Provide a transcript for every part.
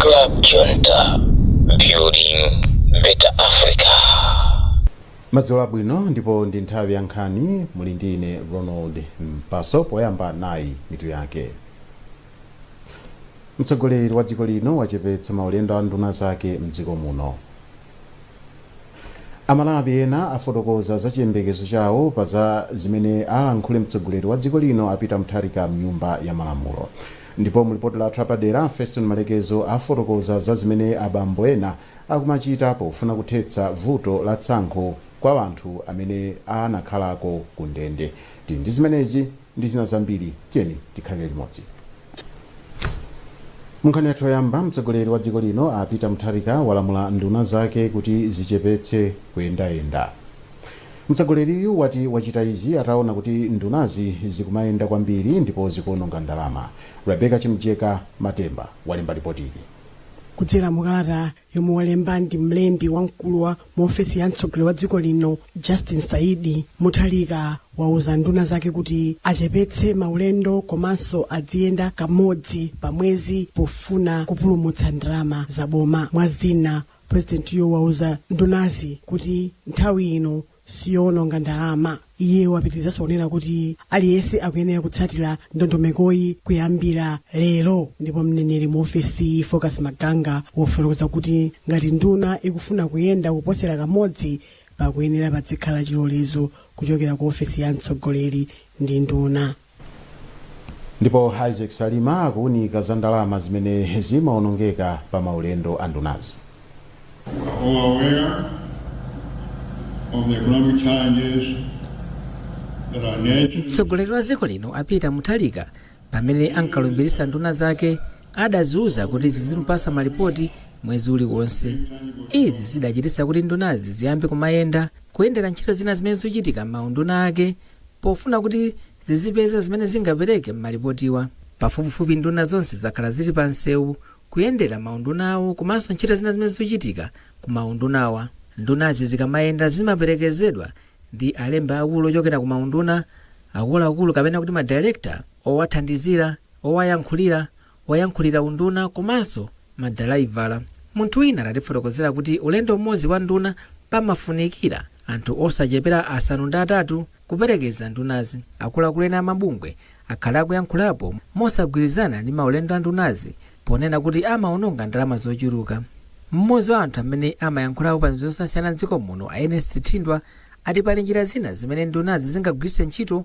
Club Junta, building better Africa. madzulo abwino ndipo ndi nthawi ya nkhani muli ndi ine ronald mpaso poyamba nayi mitu yake mtsogoleri wa dziko lino wachepetsa maulendo a nduna zake mdziko muno Amalawi ena afotokoza za chiyembekezo chawo pa za zimene alankhule mtsogoleri wa dziko lino a Peter Mutharika mnyumba ya malamulo. Ndipo mu lipoti lathu lapadera, Feston Malekezo afotokoza za zimene abambo ena akumachita pofuna kuthetsa vuto la tsankho kwa anthu amene anakhalako ku ndende. Tili ndi zimenezi ndi zina zambiri tiyeni tikhalire limodzi munkhani yathu yoyamba mtsogoleri wa dziko lino a peter mutharika walamula nduna zake kuti zichepetse kuyendayenda mtsogoleriyu wati wachita izi ataona kuti ndunazi zikumayenda kwambiri ndipo zikuononga ndalama rebeka chimjeka matemba walemba lipotili kudzera mukalata yomwe walemba ndi mlembi wamkulu wa mu ofesi ya mtsogoleri wa dziko lino justin saidi mutharika wauza nduna zake kuti achepetse maulendo komanso adziyenda kamodzi pa mwezi pofuna kupulumutsa ndalama za boma mwa zina purezidentiyo wauza ndunazi kuti nthawi ino siyoononga ndalama. Iye wapitirizanso kunena kuti aliyense akuyenera kutsatira ndondomekoyi kuyambira lero. Ndipo mneneri mu ofesi Focus Maganga wafotokoza kuti ngati nduna ikufuna kuyenda kuposera kamodzi, pakuyenera padzikhala chilolezo kuchokera ku ofesi ya mtsogoleri ndi nduna. Ndipo Isaac Salima akuunika za ndalama zimene zimaonongeka pa maulendo a ndunazi. We are all aware of the economic challenges that our nation mtsogoleri wa dziko lino a peter mutharika pamene ankalumbiritsa nduna zake adaziuza kuti zizimpasa malipoti mwezi uliwonse izi zidachititsa kuti ndunazi ziyambe kumayenda kuyendera ntchito zina zimene zochitika m'maunduna ake pofuna kuti zizipeza zimene zingapereke m'malipotiwa. Pafupifupi nduna zonse zakhala zili pa msewu kuyendera maunduna awo komanso ntchito zina zimene zochitika ku maundunawa. Ndunazi zikamayenda zimaperekezedwa ndi alembi akulu ochokera ku maunduna, akuluakulu kapena kuti ma director, owathandizira, owayankhulira, woyankhulira unduna komanso madalaivala. Munthu wina watifotokozera kuti ulendo umodzi wa nduna pamafunikira anthu osachepera asanu ndi atatu kuperekeza ndunazi. Akuluakulu ena a mabungwe akhala akuyankhulapo mosagwirizana ndi maulendo a ndunazi ponena kuti amawononga ndalama zochuluka. Mmodzi wa anthu amene amayankhulapo pa zinthu zosiyana m'dziko muno a Ernest Thindwa ati pali njira zina zimene ndunazi zingagwiritse ntchito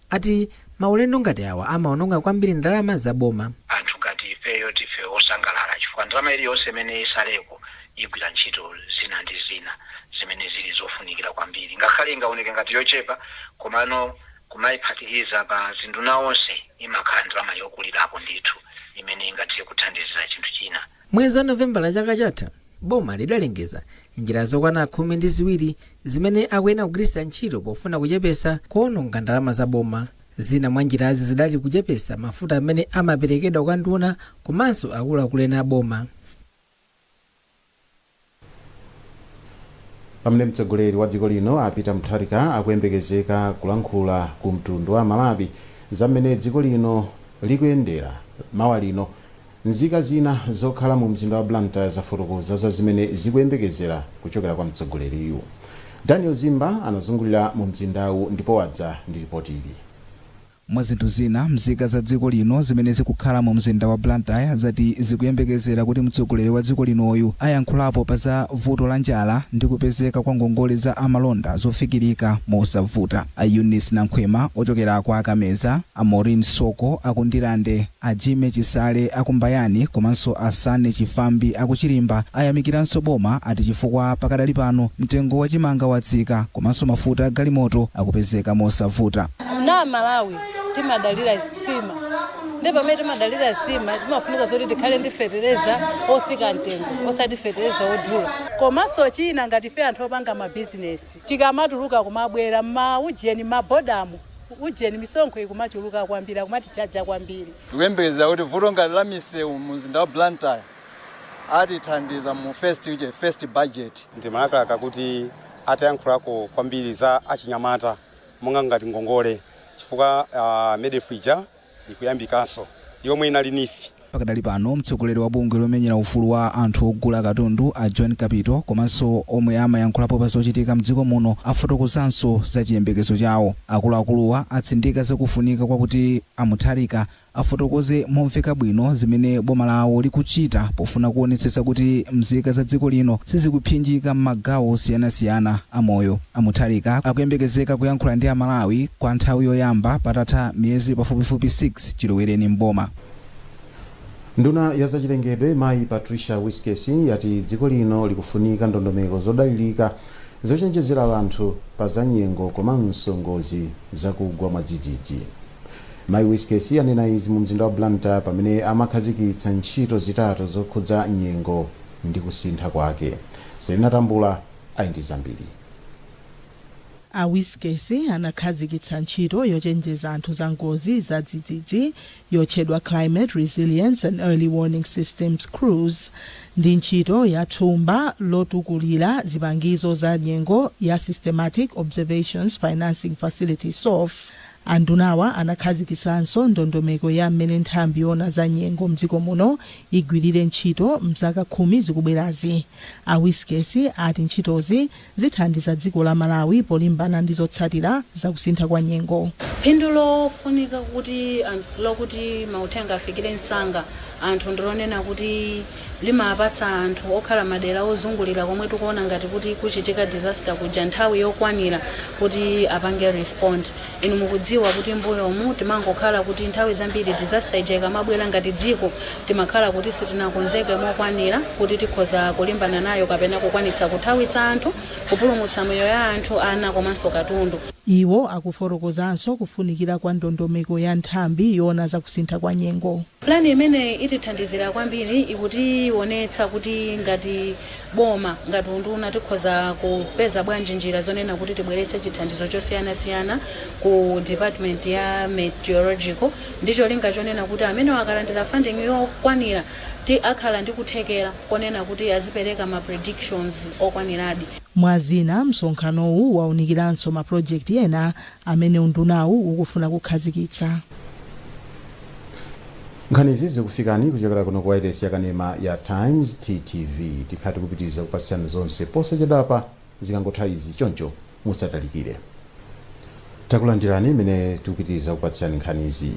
ati maulendo ngati awa amaononga kwambiri ndalama za boma. anthu ngati ifeyo ndife osangalala chifukwa ndalama iliyonse imene isaleko igwira ntchito zina ndi zina zimene zili zofunikira kwambiri ngakhale ingaoneke ngati yochepa komano kumaiphatikiza pa zinduna onse imakhala ndalama yokulirapo ndithu imene ingathe kuthandizira chinthu china. Mwezi wa Novembala chaka chatha, boma lidalengeza njira zokwana khumi ndi ziwiri zimene akuyenera kugwiritsa ntchito pofuna kuchepesa kuononga ndalama za boma. Zina mwa njirazi zidali kuchepesa mafuta amene amaperekedwa kwa nduna komanso akuluakulu ena a boma. Pamene mtsogoleri wa dziko lino a Peter Mutharika akuyembekezeka kulankhula ku mtundu wa Amalawi za m'mene dziko lino likuyendera mawa lino, nzika zina zokhala mu mzinda wa Blantyre zafotokoza za zimene zikuyembekezera kuchokera kwa mtsogoleriyu. Daniel Zimba anazungulira mu mzindawu ndipo wadza ndi lipoti ili. Mwa zinthu zina, mzika za dziko lino zimene zikukhala mu mzinda wa Blantyre zati zikuyembekezera kuti mtsogoleri wa dziko linoyu ayankhulapo pa za vuto la njala ndi kupezeka kwa ngongole za amalonda zofikirika mosavuta. A Eunice Nankhwima ochokera kwa a Kameza, a Maureen Soko a ku Ndirande, a Jimmy Chisale a ku Mbayani komanso a Sanney Chifambi a ku Chirimba ayamikiranso boma ati chifukwa pakadali pano mtengo wa chimanga watsika komanso mafuta agalimoto akupezeka mosavuta. Kuno Malawi timadalira nsima nde pamene timadalira nsima imafunika zoti tikhale ndi fetereza otsika mtengo osati fetereza odula. Komanso china ngati ife anthu opanga ma business tikamatuluka kumabwera mma ujeni mma bodamu ujeni misonkho ikumachuluka kwambiri akumatichaja kwambiri. Tikuyembekeza kuti vuto ngati la misewu mu mzinda wa Blantyre atithandiza mu first budget. Ndimalakalaka kuti atayankhulako kwambiri za achinyamata. monga ngati ngongole chifukwa MEDF ija ikuyambikanso yomwe inali NEEF. Pakadali pano mtsogoleri wa bungwe lomenyera ufulu wa anthu ogula katundu a John Kapito komanso omwe amayankhulapo pa zochitika mdziko muno afotokozanso za chiyembekezo chawo. Akuluakuluwa atsindika zakufunika kwakuti a Mutharika afotokoze momveka bwino zimene boma lawo likuchita pofuna kuonetsetsa kuti mzika za dziko lino sizikuphinjika m'magawo osiyanasiyana a moyo. A Mutharika akuyembekezeka kuyankhula ndi Amalawi kwa nthawi yoyamba patatha miyezi pafupifupi 6 chilowereni m'boma. Nduna ya zachilengedwe mayi Patricia Wiskes yati dziko lino likufunika ndondomeko zodalirika zochenjezera anthu pa za nyengo komanso ngozi zakugwa mwadzidzidzi. Mai Wiskesi anena izi mu mzinda wa Blantyre pamene amakhazikitsa ntchito zitatu zokhudza nyengo ndi kusintha kwake. Selina Tambula ali ndi zambiri. A Wiskesi anakhazikitsa ntchito yochenjeza anthu za ngozi za dzidzidzi yotchedwa Climate Resilience and Early Warning Systems Crews ndi ntchito ya thumba lotukulira zipangizo za nyengo ya Systematic Observations Financing Facility, SOFF. Andunawa anakhazikitsanso ndondomeko ya m'mene nthambi yoona za nyengo m'dziko muno igwirire ntchito m'zaka khumi zikubwerazi. A Wiskesi ati ntchitozi zithandiza dziko la Malawi polimbana ndi zotsatira za kusintha kwa nyengo. Phindu lofunika kuti anthu lokuti mauthenga afikire msanga anthu ndilonena kuti. limapatsa anthu okhala madera ozungulira komwe tikuona ngati kuti kuchitika disaster kuja nthawi yokwanira kuti apange respond inu mukudziwa kuti mbuyomu timangokhala kuti nthawi zambiri disaster ija ikamabwera ngati dziko timakhala kuti sitinakonzeke mokwanira kuti tikhoza kulimbana nayo kapena kukwanitsa kuthawitsa anthu kupulumutsa moyo ya anthu ana komanso katundu Iwo akufotokozanso kufunikira kwa ndondomeko ya nthambi yoona za kusintha kwa nyengo. Pulani imene itithandizira kwambiri, ikutiwonetsa kuti ngati boma, ngati unduna tikhoza kupeza bwanji njira zonena kuti tibweretse chithandizo chosiyana siyana ku department ya Meteorological ndi cholinga chonena kuti amenewa akalandira funding yokwanira ti akhala ndi kuthekera konena kuti azipereka ma predictions okwaniradi. Mwa zina, msonkhanowu waunikiranso ma project ena amene undunawu ukufuna kukhazikitsa. Nkhanizi zikufikani kuchokera kuno ku wailesi yakanema ya Times TTV. Tikhala tikupitiriza kupatsirani zonse posachedwapa zikangotha izi choncho musatalikire. Takulandirani imene tikupitiriza kupatsirani nkhanizi.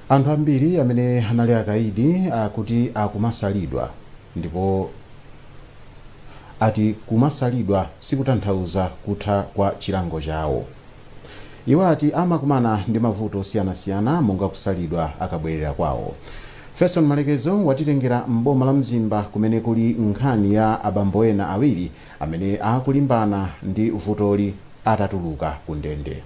Anthu ambiri amene anali akaidi akuti akumasalidwa ndipo ati kumasalidwa sikutanthauza kutha kwa chilango chawo. Iwo ati amakumana ndi mavuto osiyanasiyana monga kusalidwa akabwerera kwawo. Feston Malekezo watitengera m'boma la Mzimba kumene kuli nkhani ya abambo ena awiri amene akulimbana ndi vutoli atatuluka ku ndende.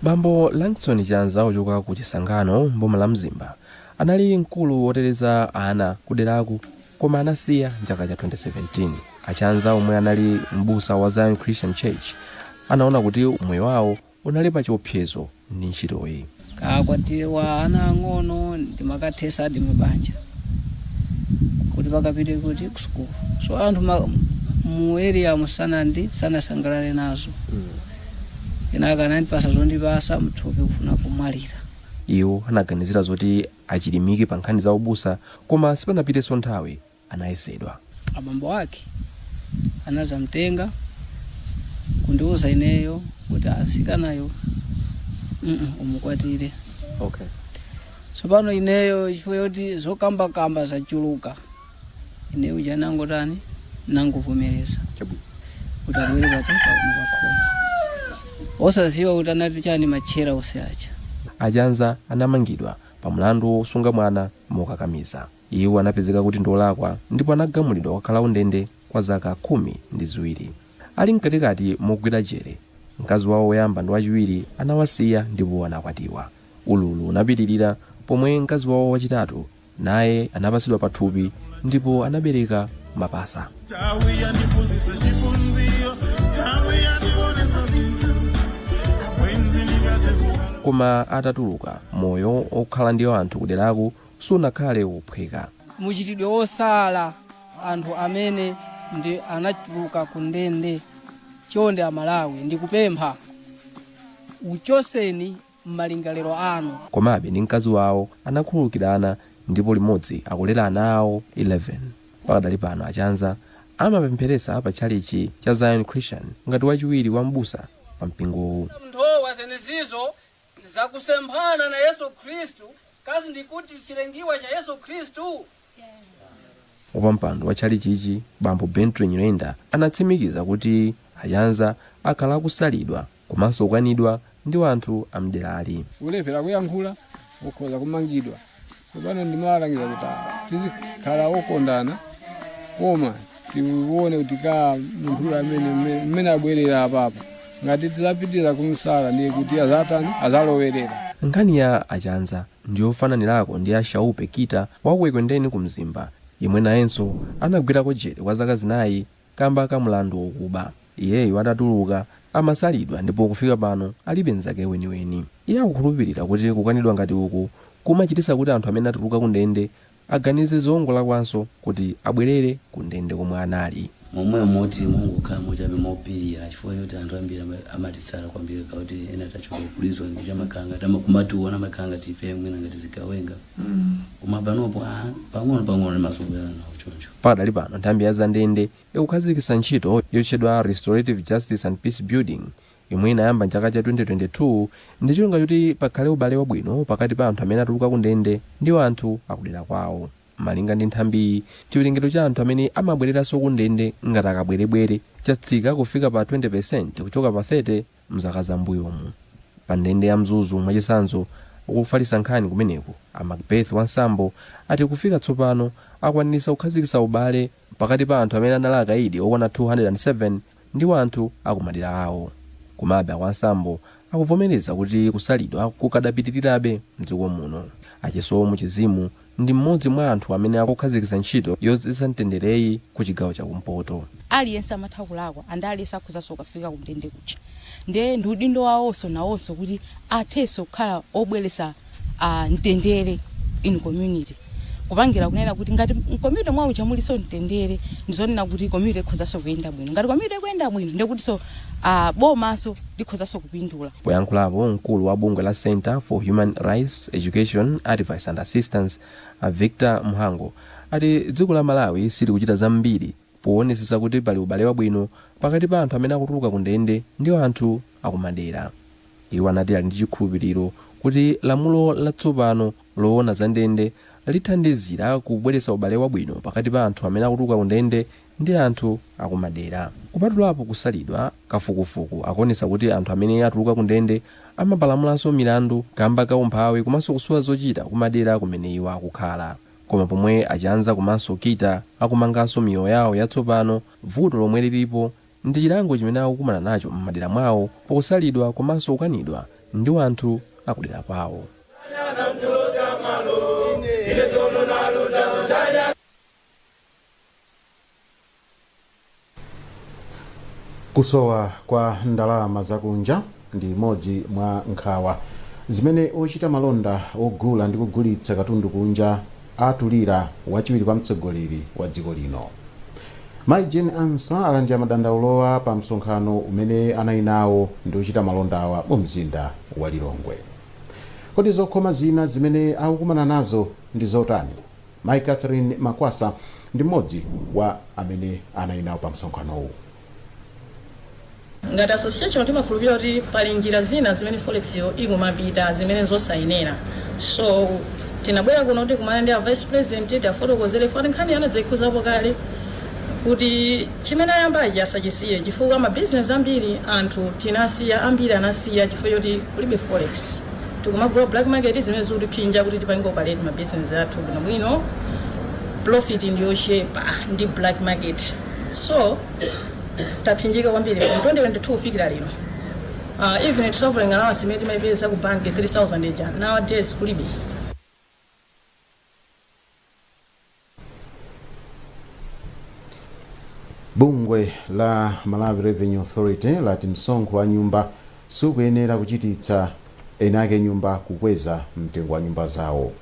Bambo Langston Chanza ochoka ku Chisangano m'boma la Mzimba anali mkulu woteteza ana kuderaku. koma anasiya mchaka cha 2017 a Chanza omwe anali mbusa wa zion christian church anaona kuti umoyo wawo unali pa chiopsezo ndi ntchitoyi kakwatiwe ana ang'ono ndimakathetsadi mabanja kuti akapite kusukulu so anthu ma- mu area sanandi sanasangalale nazo kenaka anandipatsa zondipatsa mthupi kufuna kumwalira iwo anaganizira zoti achilimike pa nkhani za ubusa koma sipanapitenso nthawi anayesedwa. abambo ake anadzamtenga kundiuza ineyo kuti mtsikanayo mm umukwatire okay. tsopano ineyo chifukwa choti zokambakamba zachuluka ine uja nangotani nangovomereza chabwino kuti abwere pati pakuno pakhomo osadziwa kuti anati chani matchera onse aja a Chanza anamangidwa pa mlandu wosunga mwana mokakamiza iwo anapezeka kuti ndiolakwa ndipo anagamulidwa kukakhala kundende kwa zaka khumi ndi ziwiri ali mkatikati mogwira jere mkazi wawo woyamba ndi wachiwiri anawasiya ndipo anakwatiwa ululu unapitirira pomwe mkazi wawo wachitatu naye anapatsidwa pathupi ndipo anabereka mapasa Nthawi yandiphunzitsa chiphunziro Nthawi yandionesa zinthu Abwenzi ndingazidziwa koma atatuluka moyo okhala ndi anthu kuderako sunakhale wophweka mchitidwe wosala anthu amene anatuluka ku ndende chonde amalawi ndikupempha uchotseni m'malingaliro anu. Komabe, ndi mkazi wawo anakhululukirana ndipo limodzi akulera ana awo 11. Pakadali pano a Chanza amapempheretsa pa tchalitchi cha Zion Christian ngati wachiwiri wa m'busa pa mpingowu. Munthowa zenezizo zakusemphana na Yesu Khristu, kasi ndi kuti chilengiwa cha Yesu Khristu? Wapampando wa tchalichichi bambo Bentry Nyirenda anatsimikiza kuti a Chanza akhala akusalidwa komanso kukanidwa ndi anthu a mderali. olo pena kuyankhula ukhoza kumangidwa tsopano ndimawalangiza kuti ah, tizikhala okondana koma tione kuti ka munthu amene mme- mmene abwerera apapa ngati tidzapitiliza kumsala ndiye kuti adzatani adzalowerera Nkhani ya a Chanza ndiyofananirako ndi a Shaupe Kita wa ku Ekwendeni ku Mzimba yemwe nayenso anagwirako jele kwa zaka zinayi kamba ka mlandu wokuba. Iyeyo atatuluka amasalidwa ndipo kufika pano alibe nzake weniweni. Iye akukhulupilira kuti kukanidwa ngati uku kumachititsa kuti anthu amene atuluka kundende aganize zongolakwanso kuti abwelere ku ndende komwe anali. momwemo moti timangokhala mochabe mopilira chifukwa choti anthu ambiri ama- amatisala kwambiri akakhala kuti ena tachoka ku prison kuti amakhala ngati ama- kumatiwona amakhala ngati ife mwina ngati zigawenga koma panopo ah, pang'ono pang'ono timazolowerana nawo choncho pakadali pano nthambi ya zandende ikukhazikitsa ntchito yotchedwa restorative justice and peace building yomwe inayamba m'chaka cha 2022 ndi cholinga choti pakhale ubale wabwino pakati pa anthu amene atuluka kundende ndi anthu akudera kwawo. Malinga ndi nthambiyi, chiwerengero cha anthu amene amabwereranso kundende ngati akabwerebwere chatsika kufika pa 20% kuchoka pa 30 m'zaka za m'mbuyomu. Pa ndende ya Mzuzu mwachitsanzo, ofalitsa nkhani kumeneko a Macbeth Wansambo ati kufika tsopano akwanitsa kukhazikitsa ubale pakati pa anthu amene anali akaidi okwana 207 ndi wanthu a kumadera awo. Komabe a Wansambo akuvomereza kuti kusalidwa kukadapitirirabe m'dziko muno. A Chisomo Chizimu ndi m'modzi mwa anthu amene akukhazikitsa ntchito yodzetsa mtendereyi ku chigawo cha kumpoto. Aliyense amatha kulakwa and aliyense akhozanso kukafika kundende kuja nde ndi udindo wawonso nawonso kuti athenso kukhala obweretsa. a mtendere in community kupangira kunena kuti ngati m'community mwawo muja muliso mtendere ndizonena kuti community ikhozaso kuyenda bwino ngati community ikuyenda bwino ndekutiso bomaso likhozaso kupindula Poyankhulapo mkulu wa bungwe la Centre for Human Rights Education, Advice and Assistance a Victor Mhango ati dziko la Malawi silikuchita zambiri poonetsetsa kuti pali ubale wabwino pakati pa anthu amene akutuluka kundende ndi anthu akumadera. Iwo anati ali ndi chikhulupiliro kuti lamulo latsopano loona za ndende lithandizira kubweretsa ubale wabwino pakati pa anthu amene akutuluka ku ndende ndi anthu akumadera. Kupatulapo kusalidwa, kafukufuku akuonetsa kuti anthu amene atuluka ku ndende amapalamulanso milandu kamba ka umphawi komanso kusowa zochita kumadera kumene iwo akukhala. Koma pomwe a Chanza komanso Kita akumanganso miyoyo yawo yatsopano, vuto lomwe lilipo ndi chilango chimene akukumana nacho m'madera mwawo pakusalidwa komanso kukanidwa ndi wanthu akudera kwawo. kusowa kwa ndalama zakunja ndi imodzi mwa nkhawa zimene ochita malonda ogula ndi kugulitsa katundu kunja atulira wachiwiri kwa mtsogoleri wa dziko lino Mai Jane Ansah alandira madandaulowa pa msonkhano umene anali nawo ndi ochita malondawa mu mzinda wa Lilongwe. Kodi zokhoma zina zimene akukumana nazo ndi zotani? Mai Catherine Makwasa ndi mmodzi wa amene anali nawo pa msonkhanowu. Ngati association timakhulupirira kuti pali njira zina zimene forex yo ikumapita zimene nzosayenera so tinabwera kuno kuti kumana ndi a vice president tiafotokozere poti nkhani anadzaikhuzapo kale kuti chimene ayambachi asachisiye chifukwa ma business ambiri anthu tinasiya ambiri anasiya chifukwa choti kulibe forex tikumagula black market zimene zikutiphinja kuti tipange operate ma business athu bwinobwino profit ndiyochepa ndi black market so tapsinjika kwambiri from 2022 kufikira lino uh, even traveling allowance imene timaipeza ku bank 3000 ija nowadays kulibe bungwe la malawi revenue authority lati msonkho wa nyumba sukuyenera kuchititsa eni ake nyumba kukweza mtengo wa nyumba zawo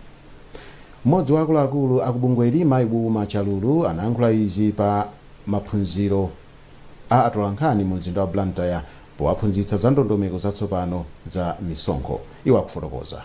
M'modzi wa akuluakulu aku bungweli mayi Wilma Chalulu anayankhula izi pa maphunziro a atolankhani mu mzinda wa Blantyre powaphunzitsa za ndondomeko zatsopano za misonkho. Iwo akufotokoza.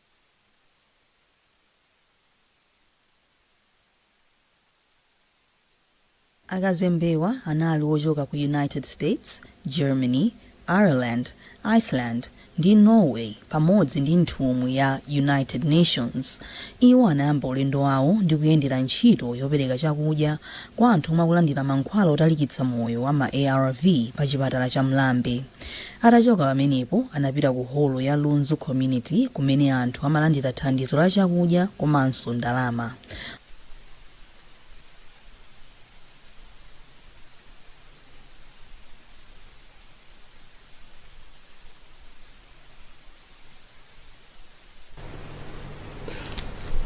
Akazembewa anali ochoka ku United States, Germany, Ireland, Iceland, ndi Norway pamodzi ndi nthumwi ya United Nations. Iwo anayamba ulendo wawo ndi kuyendera ntchito yopereka chakudya kwa anthu omwe akulandira mankhwala otalikitsa moyo wa ma arv pa chipatala cha Mlambe. Atachoka pamenepo anapita ku holo ya Lunzu Community kumene anthu amalandira thandizo la chakudya komanso ndalama.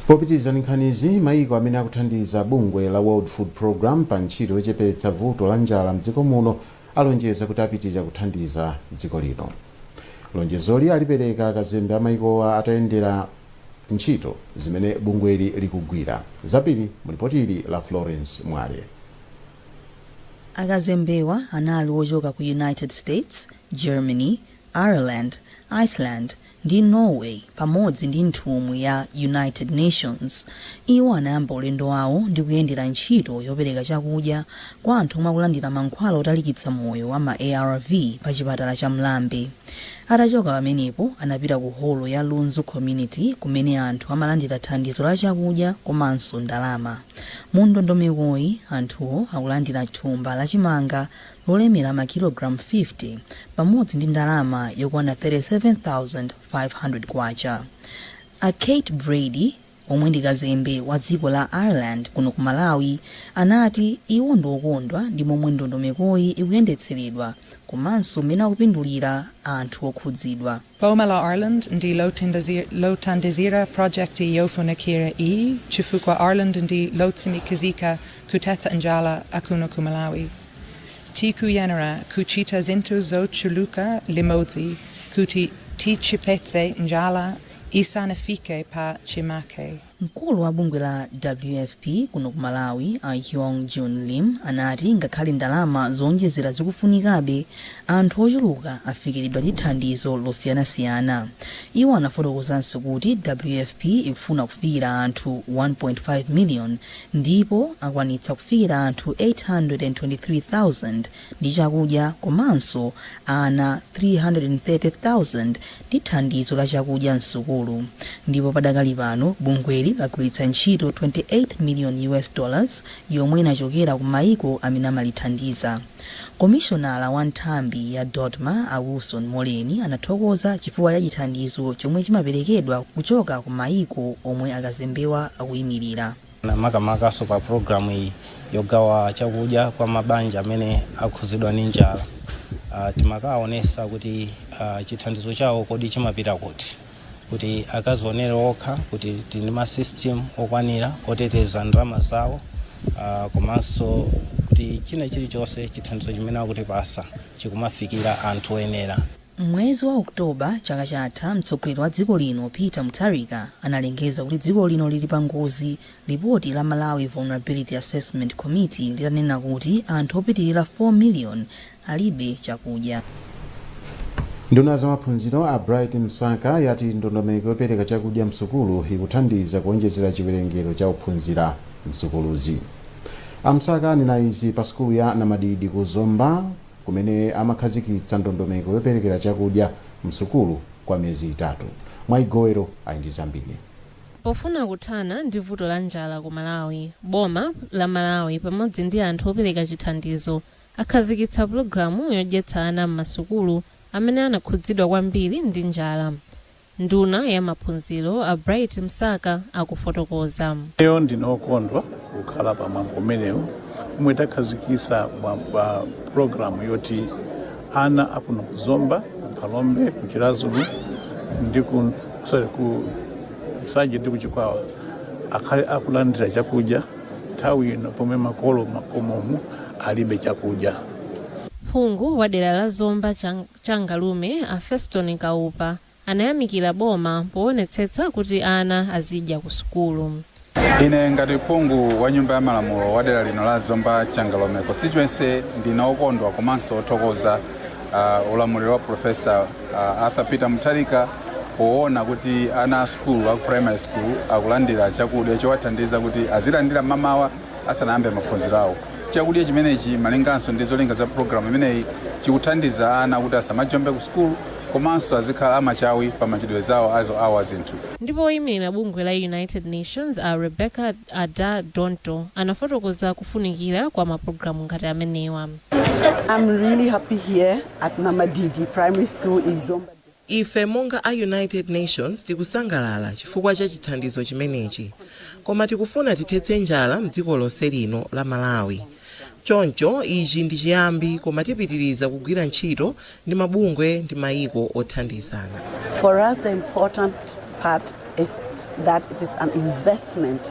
Popitiriza ndi nkhanizi, mayiko amene akuthandiza bungwe la World Food Programme pa ntchito yochepetsa vuto la njala m'dziko muno alonjeza kuti apitiriza kuthandiza dziko lino. Lonjezoli alipereka akazembe a mayikowa atayendera ntchito zimene bungweli likugwira. Zambiri mu lipotili la Florence Mwale. Akazembewa anali ochoka ku United States, Germany, Ireland, Iceland, ndi Norway pamodzi ndi nthumwi ya United Nations. Iwo anayamba ulendo wawo ndi kuyendera ntchito yopereka chakudya kwa anthu omwe akulandira mankhwala otalikitsa moyo wa ma arv pa chipatala cha Mlambe. Atachoka pamenepo anapita ku holo ya Lunzu Community kumene anthu amalandira thandizo la chakudya komanso ndalama. Mu ndondomekoyi anthuwo akulandira thumba la chimanga lolemera makilogalamu 50 pamodzi ndi ndalama yokwana K37,500. A Kate Brady, omwe ndi kazembe wa dziko la Ireland kuno ku Malawi, anati iwo ndi okondwa ndi momwe ndondomekoyi ikuyendetseredwa komanso mmene akupindulira anthu okhudzidwa. Boma la Ireland ndi Lothandizira Pulojekiti Yofunikira Iyi Chifukwa Ireland ndi Lotsimikizika Kuthetsa Njala Kuno Ku Malawi. Tikuyenera Kuchita Zinthu Zochuluka Limodzi Kuti Tichepetse Njala Isanafike Pa Chimake. Mkulu wa bungwe la WFP kuno ku Malawi, a Hyoung Jun Lim, anati ngakhale ndalama zoonjezera zikufunikabe, anthu ochuluka afikiridwa ndi thandizo losiyanasiyana. Iwo anafotokozanso kuti WFP ikufuna kufikira anthu 1.5 miliyoni ndipo akwanitsa kufikira anthu 823,000. ndi chakudya komanso ana 330,000 ndi thandizo la chakudya m'sukulu ndipo padakali pano bungweli lagwiritsa ntchito 28 million US dollars yomwe inachokera ku maiko amene amalithandiza. Komishonala wa nthambi ya DoDMA a Wilson Moleni anathokoza chifukwa cha chithandizo chomwe chimaperekedwa kuchoka ku maiko omwe akazembewa akuimirira. makamakaso pa programu iyi yogawa chakudya kwa mabanja amene akhuzidwa ni njala uh, timakaonesa kuti uh, chithandizo chawo kodi chimapita kuti kuti akazionere okha kuti tili ndi masystem okwanira oteteza ndalama zawo uh, komanso kuti china chilichonse chithandizo chimene akutipasa chikumafikira anthu oyenera M'mwezi wa October chaka chatha, mtsogoleri wa dziko lino Peter Mutharika analengeza kuti dziko lino lili pa ngozi lipoti la Malawi Vulnerability Assessment Committee litanena kuti anthu opitilira 4 million alibe chakudya. Nduna ya zamaphunziro a Bright Msaka yati ndondomeko yopereka chakudya msukulu ikuthandiza kuonjezera chiwerengero cha ophunzira msukuluzi. A Msaka anena izi pa sukulu ya Namadidi ku Zomba. kumene amakhazikitsa ndondomeko yoperekera chakudya m'sukulu kwa miyezi itatu. Mwayi Gowero ali ndi zambiri. Pofuna kuthana ndi vuto la njala ku Malawi, boma la Malawi pamodzi ndi anthu opereka chithandizo akhazikitsa pulogalamu yodyetsa ana m'masukulu amene anakhudzidwa kwambiri ndi njala. Nduna ya maphunziro, a Bright Msaka, akufotokoza. Ineyo ndine okondwa kukhala pa mwambo umenewu omwe takhazikisa wa program yoti ana akuno ku Zomba, ku Phalombe, ku Chiradzulu ndi ku sorry ku Nsanje ndi ku Chikwawa akhale akulandira chakudya nthawi ino pomwe makolo makomomu alibe chakudya. Phungu wa dera la Zomba Chang. Changalume a Feston Kaupa anayamikira boma poonetsetsa kuti ana azidya ku sukulu. Ine ngati phungu wa nyumba ya malamulo wa dera lino la Zomba Changalume Constituency ndine okondwa komanso othokoza uh, ulamuliro wa Professor uh, Arthur Peter Mutharika poona kuti ana a sukulu a primary school akulandira chakudya chowathandiza kuti azilandira mamawa asanayambe maphunziro awo. Chakudya chimenechi malinganso ndi zolinga za pulogalamu imeneyi chikuthandiza ana kuti asamajombe ku sukulu komanso azikhala amachawi pa machitidwe zawo awo a zinthu. Ndipo woyimilira bungwe la United Nations a Rebecca Adda Dontoh anafotokoza kufunikira kwa mapulogalamu ngati amenewa. Ife monga a United Nations tikusangalala chifukwa cha chithandizo chimenechi koma tikufuna tithetse njala mdziko lonse lino la Malawi. Choncho ichi ndi chiyambi koma tipitiriza kugwira ntchito ndi mabungwe ndi mayiko othandizana. For us the important part is that it is an investment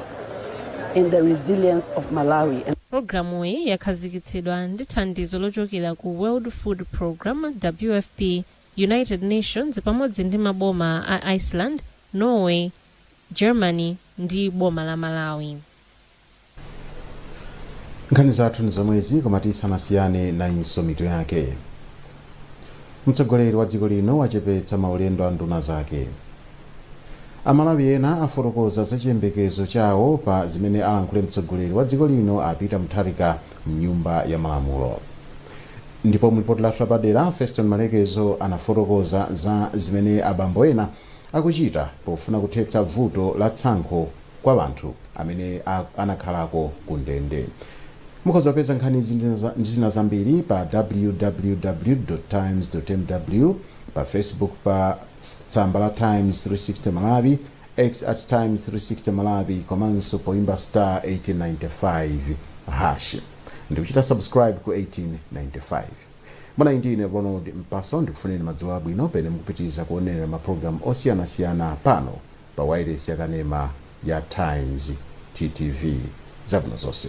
in the resilience of Malawi and. Pulogalamuyi yakhazikitsidwa ndi thandizo lochokera ku World Food Programme, WFP, United Nations pamodzi ndi maboma a Iceland, Norway, Germany ndi boma la Malawi. Nkhani zathu ndi zomwezi koma tisanasiyane nayinso mitu yake. Mtsogoleri wa dziko lino wachepetsa maulendo a nduna zake. Amalawi ena afotokoza za chiyembekezo chawo pa zimene alankhule mtsogoleri wa dziko lino a Peter Mutharika m'Nyumba ya Malamulo. Ndipo mu lipoti lathu lapadera, Feston Malekezo anafotokoza za zimene abambo ena akuchita pofuna kuthetsa vuto la tsankho kwa anthu amene anakhalako ku ndende. Mukhoza kupeza nkhanizi ndi zina zambiri pa www.times.mw pa Facebook pa tsamba la Times 360 Malawi. X at Times360 Malawi komanso poimba star 1895 hash ndikuchita subscribe ku 1895. Munali ndi ine Ronald Mpaso, ndikufunireni madzulo abwino pamene mukupitiriza kuonera mapulogalamu osiyanasiyana pano pa wailesi yakanema ya Times TV. Zabwino zonse.